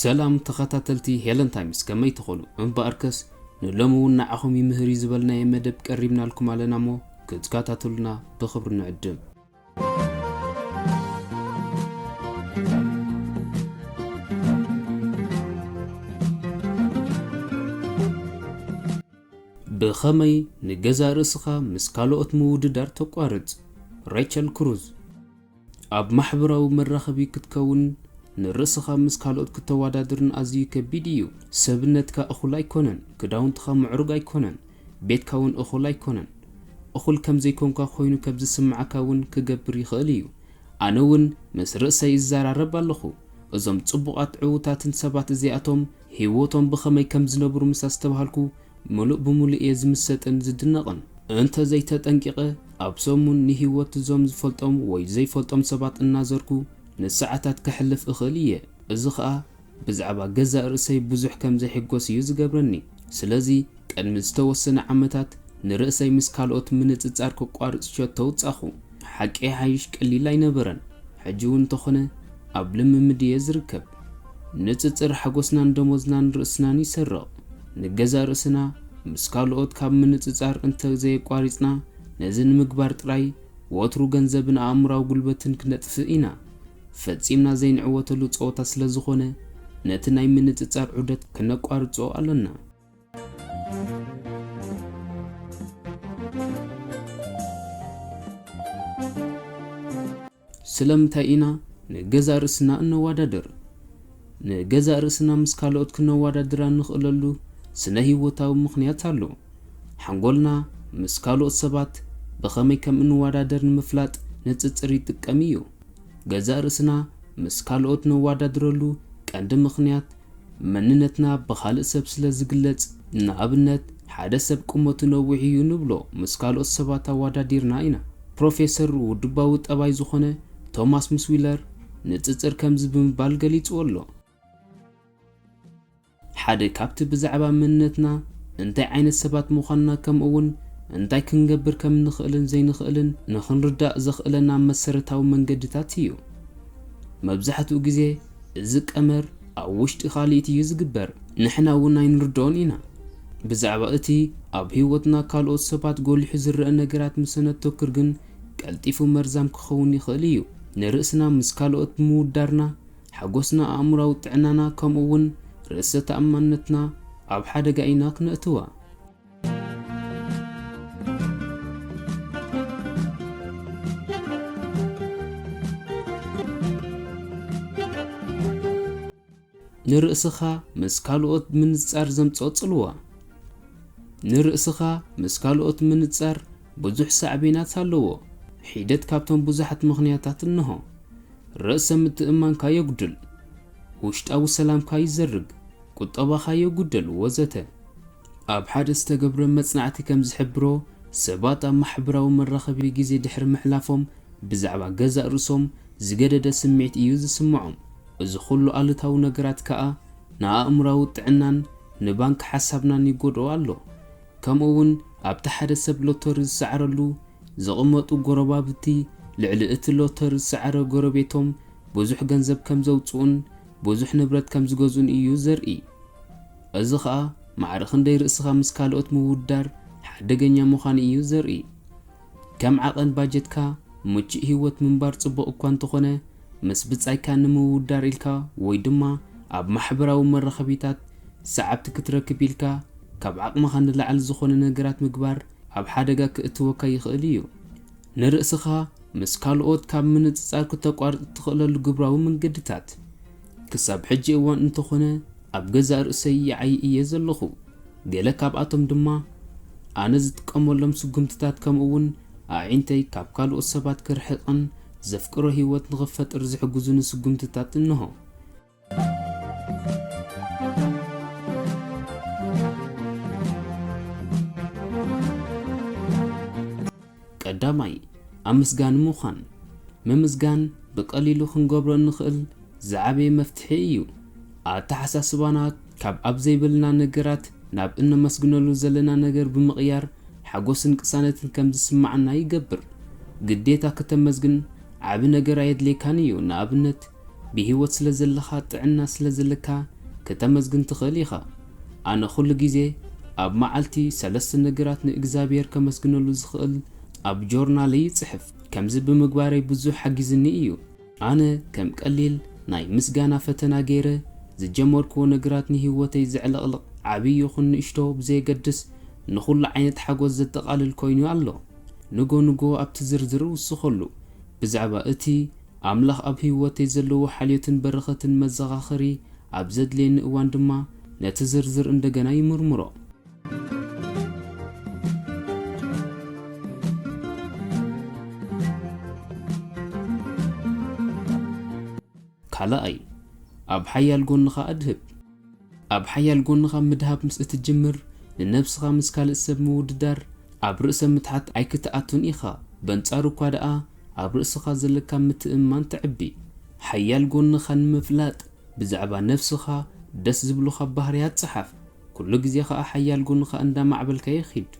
ሰላም ተኸታተልቲ ሄለን ታይምስ ከመይ ትኾኑ እምበኣርከስ ንሎሚ እውን ንዓኹም ይምህር እዩ ዝበልናዮ መደብ ቀሪብናልኩም ኣለና እሞ ክትከታተሉና ብኽብሪ ንዕድም ብኸመይ ንገዛእ ርእስኻ ምስ ካልኦት ምውድዳር ተቋርጽ? ሬቸል ክሩዝ። ኣብ ማሕበራዊ መራኸቢ ክትከውንን ንርእስኻ ምስ ካልኦት ክተወዳድርን ኣዝዩ ከቢድ እዩ። ሰብነትካ እኹል ኣይኰነን፣ ክዳውንትኻ ምዕሩግ ኣይኰነን፣ ቤትካ እውን እኹል ኣይኮነን። እኹል ከም ዘይኮንካ ኮይኑ ከብ ዝስምዓካ እውን ክገብር ይኸእል እዩ። ኣነ እውን ምስ ርእሰይ እዛራረብ ኣለኹ። እዞም ጽቡቓት ዕውታትን ሰባት እዚኣቶም ህይወቶም ብኸመይ ከም ዝነብሩ ምስ ኣስተብሃልኩ ምሉእ ብምሉእ እየ ዝምሰጥን ዝድነቕን። እንተ ዘይተጠንቂቐ ኣብ ሰሙን ንህይወት እዞም ዝፈልጦም ወይ ዘይፈልጦም ሰባት እናዘርኩ ንሰዓታት ከሕልፍ እኽእል እየ። እዚ ኸኣ ብዛዕባ ገዛእ ርእሰይ ብዙሕ ከም ዘይሕጐስ እዩ ዚገብረኒ። ስለዚ፣ ቅድሚ ዝተወሰነ ዓመታት፣ ንርእሰይ ምስ ካልኦት ምንጽጻር ከቋርጽ ሸቶ ኣውጻኹ። ሓቂ ይሓይሽ ቀሊል ኣይነበረን፣ ሕጂ እውን እንተ ዀነ ኣብ ልምምድ እየ ዝርከብ። ንጽጽር ሓጐስናን ደሞዝናን ርእስናን ይሰርቕ። ንገዛእ ርእስና ምስ ካልኦት ካብ ምንጽጻር እንተ ዘየቋሪጽና፣ ነዚ ንምግባር ጥራይ ወትሩ ገንዘብን ኣእምሮኣዊ ጕልበትን ክነጥፍእ ኢና። ፈጺምና ዘይንዕወተሉ ጸወታ ስለዝኾነ ነቲ ናይ ምንጽጻር ዑደት ከነቋርጾ ኣሎና። ስለምንታይ ኢና ንገዛእ ርእስና እነወዳድር? ንገዛእ ርእስና ምስ ካልኦት ክነዋዳድር ኣንኽእለሉ ስነ ህይወታዊ ምኽንያት ኣሎ። ሓንጎልና ምስ ካልኦት ሰባት ብኸመይ ከም እንዋዳደር ንምፍላጥ ንጽጽር ይጥቀም እዩ። ገዛእ ርእስና ምስ ካልኦት ነዋዳድረሉ ቀንዲ ምኽንያት መንነትና ብኻልእ ሰብ ስለ ዝግለጽ ንኣብነት ሓደ ሰብ ቁመቱ ነዊሕ እዩ ንብሎ ምስ ካልኦት ሰባት ኣዋዳዲርና ኢና። ፕሮፌሰር ውድባዊ ጠባይ ዝኾነ ቶማስ ምስ ዊለር፣ ንጽጽር ከምዚ ብምባል ገሊጽዎ ኣሎ። ሓደ ካብቲ ብዛዕባ መንነትና፣ እንታይ ዓይነት ሰባት ምዃንና ከምኡውን እንታይ ክንገብር ከም እንኽእልን ዘይንኽእልን ንኽንርዳእ ዘኽእለና መሰረታዊ መንገድታት እዩ። መብዛሕትኡ ግዜ እዚ ቀመር ኣብ ውሽጢ ካልኢት እዩ ዝግበር። ንሕና እውን ኣይንርድኦን ኢና። ብዛዕባ እቲ ኣብ ህይወትና ካልኦት ሰባት ጎሊሑ ዝረኣ ነገራት ምስ እነተኩር ግን ቀልጢፉ መርዛም ክኸውን ይኽእል እዩ። ንርእስና ምስ ካልኦት ብምውዳርና፣ ሓጐስና፣ ኣእምሮኣዊ ጥዕናና፣ ከምኡውን ርእሰ ተኣማንነትና ኣብ ሓደጋ ኢና ክነእትዋ። ንርእስኻ ምስ ካልኦት ምንጽጻር ዘምጽኦ ጽልዋ። ንርእስኻ ምስ ካልኦት ምንጽጻር ብዙሕ ሳዕቤናት ኣለዎ። ሒደት ካብቶም ብዙሓት ምኽንያታት እነሆ። ርእሰ ምትእምማንካ የጉድል። ውሽጣዊ ሰላምካ ይዘርግ። ቁጠባኻ የጉድል። ወዘተ። ኣብ ሓደ ዝተገብረ መጽናዕቲ ከም ዝሕብሮ፣ ሰባት ኣብ ማሕበራዊ መራኸቢ ግዜ ድሕሪ ምሕላፎም ብዛዕባ ገዛእ ርእሶም ዝገደደ ስምዒት እዩ ዝስምዖም። እዚ ኹሉ ኣሉታዊ ነገራት ከኣ ንኣእምሮኣዊ ጥዕናን ንባንክ ሓሳብናን ይጎድኦ ኣሎ። ከምኡ ውን ኣብቲ ሓደ ሰብ ሎተሪ ዝሰዓረሉ ዝቕመጡ ጎረባብቲ ልዕሊ እቲ ሎተሪ ዝሰዓረ ጎረቤቶም ብዙሕ ገንዘብ ከም ዘውጽኡን ብዙሕ ንብረት ከም ዝገዝኡን እዩ ዘርኢ። እዚ ኸኣ ማዕረ ክንደይ ርእስኻ ምስ ካልኦት ምውድዳር ሓደገኛ ምዃኑ እዩ ዘርኢ። ከም ዓቐን ባጀትካ ምቹእ ህይወት ምንባር ጽቡቕ እኳ እንተኾነ ምስ ብጻይካ ንምውዳር ኢልካ ወይ ድማ ኣብ ማሕበራዊ መራኸቢታት ሰዓብቲ ክትረክብ ኢልካ ካብ ዓቕምኻ ንላዕሊ ዝኾነ ነገራት ምግባር ኣብ ሓደጋ ክእትወካ ይኽእል እዩ። ንርእስኻ ምስ ካልኦት ካብ ምንጽጻር ክተቋርጽ እትኽእለሉ ግብራዊ መንገድታት። ክሳብ ሕጂ እዋን እንተኾነ ኣብ ገዛእ ርእሰይ ይዓዪ እየ ዘለኹ። ገለ ካብኣቶም ድማ ኣነ ዝጥቀመሎም ስጉምትታት ከምኡ'ውን ኣዒንተይ ካብ ካልኦት ሰባት ክርሕቕን ዘፍቅሮ ህይወት ንኽፈጥር ዝሕግዙኒ ስጕምትታት እንሆ። ቀዳማይ፣ ኣመስጋኒ ምዃን። ምምስጋን ብቐሊሉ ክንገብሮ እንኽእል ዝዓበየ መፍትሒ እዩ። ኣተሓሳስባና ካብ ኣብ ዘይብልና ነገራት ናብ እነመስግነሉ ዘለና ነገር ብምቕያር ሓጎስን ቅሳነትን ከም ዝስምዓና ይገብር። ግዴታ ክተመስግን ዓቢ ነገር ኣየድልየካን እዩ፣ ንኣብነት ብህይወት ስለ ዘለኻ፣ ጥዕና ስለ ዘለካ ክተመስግን ትኽእል ኢኻ። ኣነ ኩሉ ግዜ ኣብ መዓልቲ ሰለስተ ነገራት ንእግዚኣብሄር ከመስግነሉ ዝኽእል ኣብ ጆርናለይ ይጽሕፍ። ከምዚ ብምግባረይ ብዙሕ ሓጊዝኒ እዩ። ኣነ ከም ቀሊል ናይ ምስጋና ፈተና ገይረ ዝጀመርክዎ ነገራት ንህይወተይ ዘዕለቕልቕ ዓብዪ ይኹን ንእሽቶ ብዘየገድስ ንኹሉ ዓይነት ሓጎስ ዘጠቓልል ኮይኑ ኣሎ። ንጎ ንጎ ኣብቲ ዝርዝር እውስኸሉ። ብዛዕባ እቲ ኣምላኽ ኣብ ህይወተይ ዘለዎ ሓልዮትን በረኸትን መዘኻኸሪ ኣብ ዘድልየኒ እዋን ድማ ነቲ ዝርዝር እንደገና ይምርምሮ። ካልኣይ፣ ኣብ ሓያል ጎንኻ ኣድህብ። ኣብ ሓያል ጎንኻ ምድሃብ ምስ እትጅምር፣ ንነብስኻ ምስ ካልእ ሰብ ምውድዳር፣ ኣብ ርእሰ ምትሓት ኣይክትኣቱን ኢኻ፣ በንጻሩ እኳ ደኣ ኣብ ርእስኻ ዘለካ ምትእምማን ተዕቢ። ሓያል ጎንኻ ንምፍላጥ፣ ብዛዕባ ነብስኻ ደስ ዝብሉኻ ባህርያት ጸሓፍ። ኩሉ ግዜ ከኣ ሓያል ጎንኻ እንዳ ኣማዕበልካዮ ኺድ።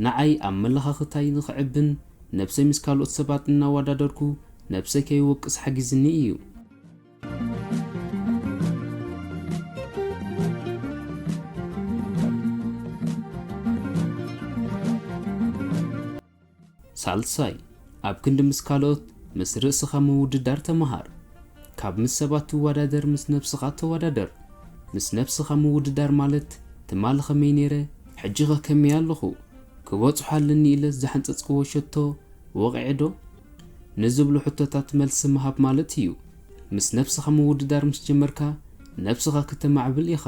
ንዓይ ኣመለኻኽታይ ንኽዕብን ነብሰይ ምስ ካልኦት ሰባት እናዋዳደርኩ ነብሰይ ከይወቅስ ሓጊዝኒ እዩ። ሳልሳይ፣ ኣብ ክንዲ ምስ ካልኦት፣ ምስ ርእስኻ ምውድዳር ተመሃር። ካብ ምስ ሰባት ትወዳደር ምስ ነብስኻ ተወዳደር። ምስ ነብስኻ ምውድዳር ማለት ትማል ኸመይ ነይረ፣ ሕጂኸ ከመይ ኣለኹ፣ ክበጽሖ ኣለኒ ኢለስ ዝሓንጸጽክዎ ሸቶ ወቒዐ'ዶ? ንዝብሉ ሕቶታት መልሲ ምሃብ ማለት እዩ። ምስ ነብስኻ ምውድዳር ምስ ጀመርካ፣ ነብስኻ ክተማዕብል ኢኻ፣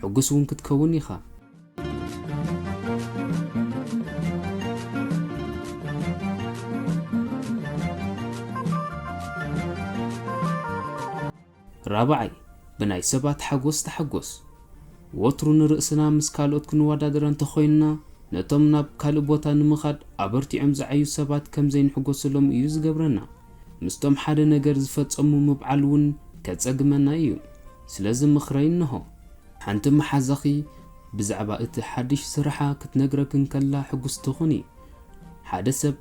ሕጉስ'ውን ክትከውን ኢኻ። ራብዓይ፣ ብናይ ሰባት ሓጎስ ተሓጎስ። ወትሩ ንርእስና ምስ ካልኦት ክንወዳደር እንተ ኾይንና፣ ነቶም ናብ ካልእ ቦታ ንምኻድ ኣበርቲዖም ዝዓዩ ሰባት ከም ዘይንሕጎሰሎም እዩ ዝገብረና። ምስቶም ሓደ ነገር ዝፈጸሙ ምብዓል እውን ከጸግመና እዩ። ስለዚ ምኽረይ እንሆ። ሓንቲ መሓዛኺ ብዛዕባ እቲ ሓድሽ ስራሓ ክትነግረኪ እንከላ ሕጉስቲ ኩኒ። ሓደ ሰብ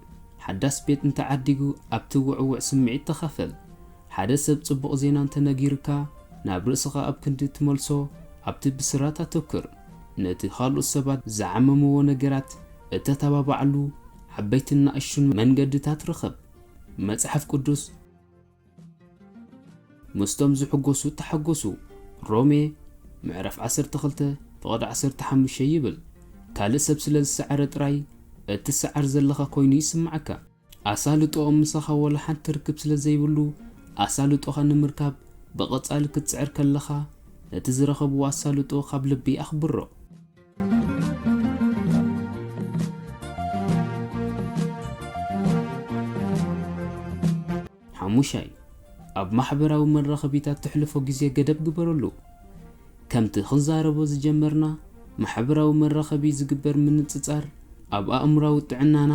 ሓዳስ ቤት እንተ ዓዲጉ ኣብቲ ውዕዉዕ ስምዒት ተኻፈል። ሓደ ሰብ ጽቡቕ ዜና እንተ ነጊሩካ ናብ ርእስኻ ኣብ ክንዲ እትመልሶ ኣብቲ ብስራት ኣተኩር። ነቲ ኻልኦት ሰባት ዝዓመምዎ ነገራት እተተባብዓሉ ዓበይትን ንኣሽቱን መንገድታት ርኸብ። መጽሓፍ ቅዱስ። ምስቶም ዝሕጎሱ ተሓጎሱ። ሮሜ ምዕራፍ ዓሰርተ ክልተ ፍቕዲ ዓሰርተ ሓሙሽተ ይብል ካልእ ሰብ ስለ ዝሰዓረ ጥራይ እትሰዓር ዘለኻ ኮይኑ ይስምዓካ። ኣሳልጦኦም ምሳኻ ዋላ ሓንቲ ርክብ ስለ ዘይብሉ ኣሳልጦኻ ንምርካብ ብቐጻሊ ክትጽዕር ከለኻ ነቲ ዝረኸብዎ ኣሳልጦ ካብ ልቢ ኣኽብሮ። ሓሙሻይ ኣብ ማሕበራዊ መራኸቢታት ተሕልፎ ግዜ ገደብ ግበረሉ። ከምቲ ክንዛረቦ ዝጀመርና ማሕበራዊ መራኸቢ ዝግበር ምንጽጻር ኣብ ኣእምራዊ ጥዕናና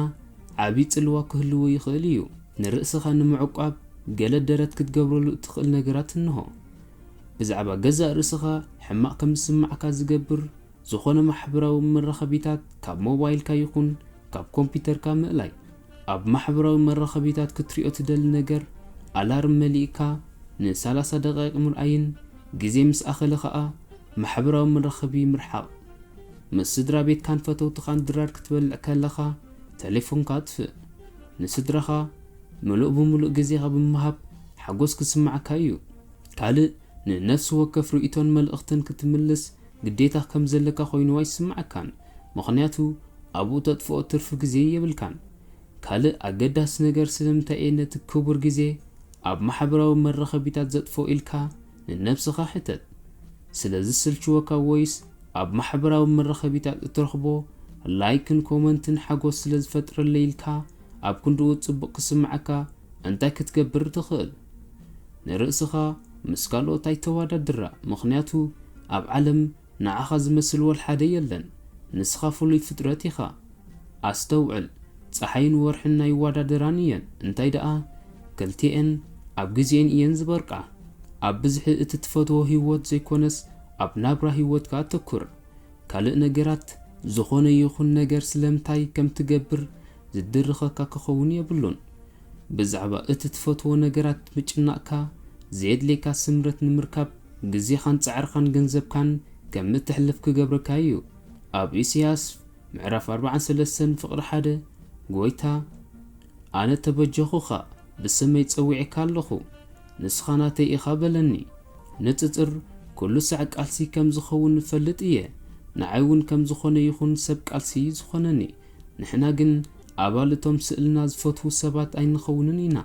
ዓቢ ጽልዋ ክህልዎ ይኽእል እዩ። ንርእስኻ ንምዕቋብ ገለ ደረት ክትገብረሉ እትኽእል ነገራት እንሆ። ብዛዕባ ገዛእ ርእስኻ ሕማቕ ከም ዝስምዓካ ዝገብር ዝዀነ ማሕበራዊ መራኸቢታት ካብ ሞባይልካ ይኹን ካብ ኮምፕዩተርካ ምእላይ። ኣብ ማሕበራዊ መራኸቢታት ክትሪኦ ትደሊ ነገር ኣላርም መሊእካ ን ሰላሳ ደቓይቕ ምርኣይን ግዜ ምስ ኣኸለ ኸኣ ማሕበራዊ መራኸቢ ምርሓቕ። ምስ ስድራቤትካን ፈተውትኻን ድራር ክትበልዕ ከለኻ ተሌፎንካ ኣጥፍእ። ንስድራኻ። ምሉእ ብምሉእ ግዜኻ ብምሃብ ሓጐስ ክስምዓካ እዩ። ካልእ፣ ንነፍሲ ወከፍ ርእይቶን መልእኽትን ክትምልስ ግዴታ ከም ዘለካ ኰይኑ ኣይስምዓካን፣ ምኽንያቱ ኣብኡ እተጥፍኦ ትርፊ ግዜ የብልካን። ካልእ ኣገዳሲ ነገር፣ ስለምንታይ እየ ነቲ ክቡር ግዜ ኣብ ማሕበራዊ መራኸቢታት ዘጥፍኦ ኢልካ ንነብስኻ ሕተት። ስለ ዝስልችወካ ወይስ ኣብ ማሕበራዊ መራኸቢታት እትረኽቦ ላይክን ኮመንትን ሓጐስ ስለ ዝፈጥረለይ ኢልካ ኣብ ክንድኡ ጽቡቕ ክስምዓካ እንታይ ክትገብር ትኽእል? ንርእስኻ ምስ ካልኦት ኣይተዋዳድራ ምኽንያቱ ኣብ ዓለም ንዓኻ ዝመስል ወልሓደ የለን ንስኻ ፍሉይ ፍጥረት ኢኻ። ኣስተውዕል ጸሓይን ወርሕን ኣይዋዳደራን እየን እንታይ ደኣ ክልቲኤን ኣብ ግዜኤን እየን ዝበርቃ። ኣብ ብዝሒ እቲ ትፈትዎ ሂወት ዘይኮነስ ኣብ ናብራ ሂወትካ ኣተኩር። ካልእ ነገራት፣ ዝኾነ ይኹን ነገር ስለምንታይ ከም ትገብር ዝድርኸካ ክኸውን የብሉን። ብዛዕባ እቲ ትፈትዎ ነገራት ምጭናቕካ፣ ዘየድልየካ ስምረት ንምርካብ ግዜኻን ጻዕርኻን ገንዘብካን ከም እተሕልፍ ክገብረካ እዩ። ኣብ ኢሳይያስ ምዕራፍ ኣርብዓን ሰለስተን ፍቕሪ ሓደ፣ ጐይታ፣ ኣነ ተበጀኹኻ፣ ብስመይ ጸዊዔካ ኣለኹ። ንስኻ ናተይ ኢኻ በለኒ ንጽጽር ኩሉ ሳዕ ቃልሲ ከም ዝኸውን እፈልጥ ኢየ ንዓይ ውን ከም ዝኾነ ይኹን ሰብ ቃልሲ ኢዩ ዝኾነኒ ንሕና ግን ኣባል እቶም ስእልና ዝፈትዉ ሰባት ኣይንኸውንን ኢና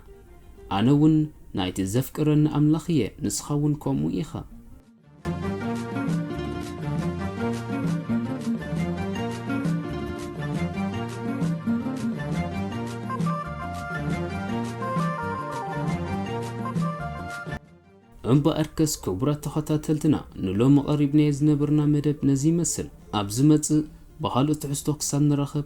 ኣነ ውን ናይቲ ዘፍቅረኒ ኣምላኽ ኢየ ንስኻ ውን ከምኡ ኢኻ እምበኣርከስ ክቡራት ተኸታተልትና ንሎሚ ቐሪብናዮ ዝነበርና መደብ ነዚ ይመስል። ኣብ ዝመጽእ ብኻልእ ትሕዝቶ ክሳብ ንራኸብ